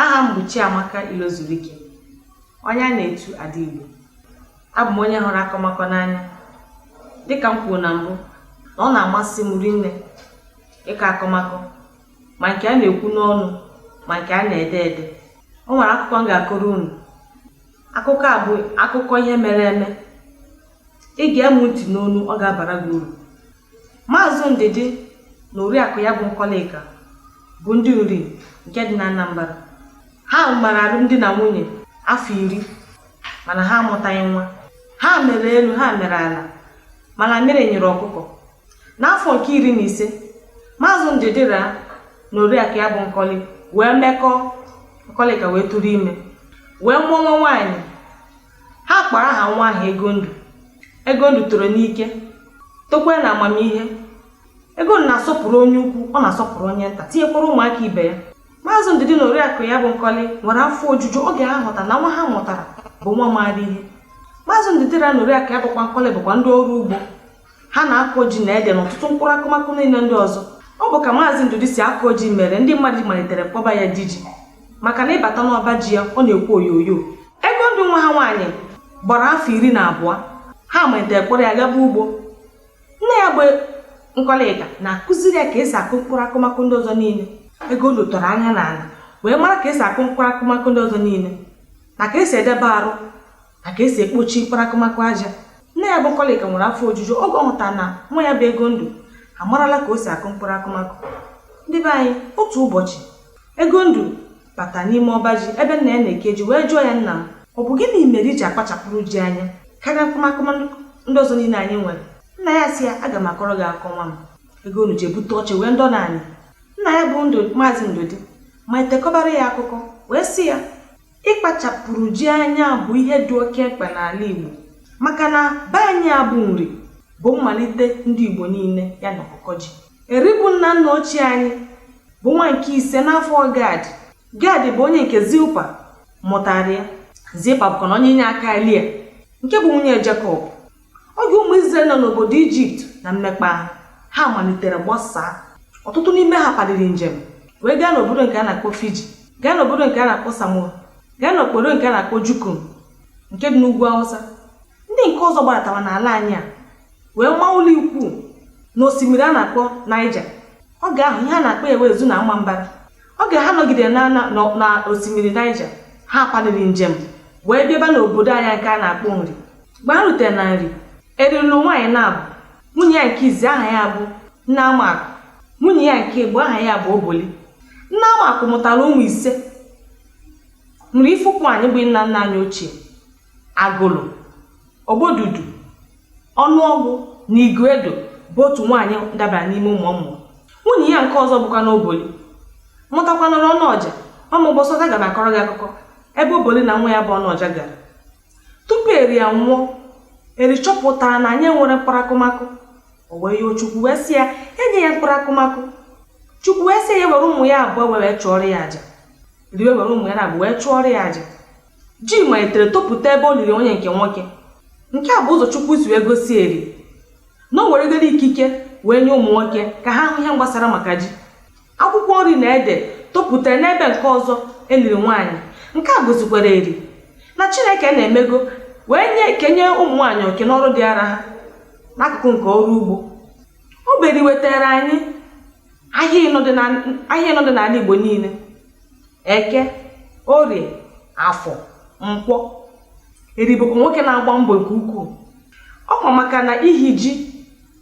aha m bụ Chiamaka Ilozurike onye a na-etu Ada Igbo abụ m onye hụrụ akọmakọ n'anya dịka m kwuru na mbụ na ọ na-amasị m rinne ịkọ akọmakọ ma nke a na-ekwu n'ọnụ ma nke a na-ede ede o nwere akụkọ m ga-akọrọ unu akụkọ a bụ akụkọ ihe mere eme ị gee mụ ntị n'ọnụ ọ ga-abara gị uru Maazị Ndidi na oriakụ ya bụ Nkọlịka bụ ndị Nri nke dị na Anambara. Ha gbara alụmdi na nwunye afọ iri mana ha amụtaghị nwa. Ha mere elu ha mere ala mana mamịrị nyịrị ọkụkọ. N'afọ nke iri na ise, Maazị Ndidi ra na oriakụ ya bụ Nkọlị wee mekọọ, Nkọlịka wee tụrụ ime wee mụọ nwa nwaanyị. Ha kpọrọ aha nwa ahụ Egondụ. Egondụ toro n'ike, tokwa na amamihe. Egondụ na-asọpụrụ onye ukwu, ọ na-asọpụrụ onye nta, tinyekwara ụmụaka ibe ya. Maazị Ndidi na Oriakụ ya bụ Nkọlị nwere afọ ojuju oge ha hụtara na nwa ha mụtara bụ nwa maara ihe. Maazị Ndidi na Oriakụ ya bụkwa Nkọlị bụkwa ndị ọrụ ugbo. ha na-akọ ji na ede na ọtụtụ mkpụrụ akụmakụ niile ndị ọzọ ọ bụ ka maazị ndụdị si akọ ji mere ndị mmadụ malitere kpọba ya di ji maka na ị bata n'ọba ji ya ọ na-ekwu oyoyo Egondụ nwa ha nwaanyị gbara afọ iri na abụọ ha malitere kpọrọ ya gaba ugbo nne ya bụ nkọlịka na-akụziri ya ka esi akụ mkpụrụ akụmakụ ndị ọzọ niile Egondụ tọrọ anya n'ala wee mara ka esi akụ mkpụrụ akụmakụ ndị ọzọ niile na ka esi edebe arụ a ka esi ekpochi mkpụrụ akụmakụ aja nne ya bụ Nkọlịka nwere afọ ojuju oge ọ hụtara na nwa ya bụ Egondụ amarala ka o si akụ mkpụrụ akụmakụ ndị be anyị otu ụbọchị Egondụ bata n'ime ọba ji ebe nna ya na-eke ji wee jụọ ya nna m ọ bụ gịnị mere i ji akpachapụrụ ji anya karịa akụmakụ ndị ọzọ niile anyị nwere nna ya sị ya aga m akọrọ gị akọ nwa m Egondụ jee bute oche wee nọdụ n'ala nna ya bụ ndụ maazị ndụdị malite kọbara ya akụkọ wee sị ya ịkpachapụrụ ji anya bụ ihe dị oke mkpa n'ala Igbo maka na be anyị a bụ Nri bụ mmalite ndị Igbo niile ya na ọkụkọ ji Eri bụ nna nna ochie anyị bụ nwa nke ise n'afọ Gad Gad bụ onye nke Zilpa mụtara ya Zilpa bụkwanụ onye inye aka Lia nke bụ nwunye Jekọb oge ụmụ Izrel nọ n'obodo Ijipt na mmekpa ahụ ha malitere gbasaa ọtụtụ n'ime ha paliri njem wee gaa n'obodo nke a na-akpọ Fiji gaa n'obodo nke a na-akpọ Samoa gaa n'obodo nke a na-akpọ Jukum nke dị n'ugwu Awụsa ndị nke ọzọ gbadatara n'ala anyị a wee maa ụlọ ikwu n'osimiri a na-akpọ Naija oge ahụ ihe a na-akpọ ya bụ Ezu na Ọmambala oge ha nọgidere na na- na- na osimiri naija ha paliri njem wee bịaba n'obodo anyị nke a na-akpọ nri mgbe ha rutere na nri eri lụọ nwaanyị naabọ nwunye ya nke izi aha ya bụ nneamakụ nwunye ya nke ịbọọ aha ya bụ oboli nneamakụ mụtara ụmụ ise nri ifikwuanịm bụ nna nna anyị ochie Agụlụ, Ogbodudu, Ọnụọgwụ na Iguedo bụ otu nwaanyị dabara n'ime ụmụ ọ mụ. Nwunye ya nke ọzọ bụkwanụ Oboli mụtakwanụrụ Ọnụọja, o ruo ụbọsị ọdọ aga m akọrọ gị akụkọ ebe Oboli na nwa ya bụ Ọnụọja gara. Tupu Eri anwụọ, Eri chọpụtara na anyị enwerọ mkpụrụ akụmakụ. O wee yọọ Chukwu wee sị ya nye ya mkpụrụ akụmakụ. Chukwu wee sị ya were ụmụ ya abụọ were chụọrọ ya aja. Eri wee were ụmụ ya naabọ wee chụọrọ ya aja. Ji malitere topụta ebe o liri onye nke nwoke. Nke a bụ ụzọ Chukwu si wee gosi Eri na o weregoro ikike wee nye ụmụ nwoke ka ha hụ ihe gbasara maka ji. Akwụkwọ nri na ede topụtara n'ebe nke ọzọ e liri nwaanyị. Nke a gosikwara Eri na Chineke na-emego wee nye kenye ụmụ nwaanyị oke n'ọrụ dịara ha n'akụkụ nke ọrụ ugbo. Ọ bụ Eri wetaara anyị ahịa ịnọ dị n'ala Igbo niile. eke orie afọ nkwọ eri bụkwa nwoke na-agba mbọ nke ukwuu ọ kwa maka na ihi ji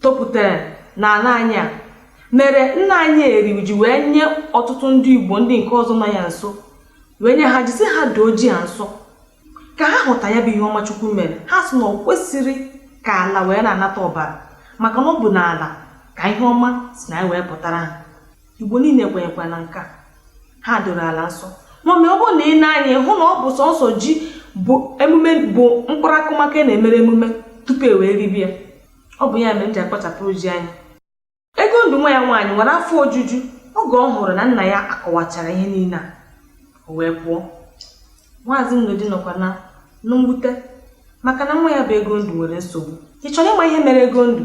topụtara n'ala anyị a mere nna anyị eri ji wee nye ọtụtụ ndị igbo ndị nke ọzọ nọ ya nso wee nye ha ji sị ha doo ji a nsọ ka ha hụta ya bụ ihe ọma chukwu mere ha sị na ọ kwesịrị ka ala wee na-anata ọbara maka na ọ bụ n'ala ka ihe ọma si na ya wee pụtara ha Igbo niile kwenyekwa na nke a ha doro ala nsọ mana ọ bụrụ na i nee anya ị hụ na ọ bụ sọsọ ji bụ emume bụ mkpụrụ akụmakụ a na-emere emume tupu e wee ribe ya ọ bụ ya mere e ji akpachapụrụ ji anya Egondụ nwa ya nwaanyị nwere afọ ojuju oge ọ hụrụ na nna ya akọwachara ihe niile a o wee pụọ maazị Nedu nọkwa na mwute maka na nwa ya bụ Egondụ nwere nsogbu ị chọrọ ịma ihe mere Egondụ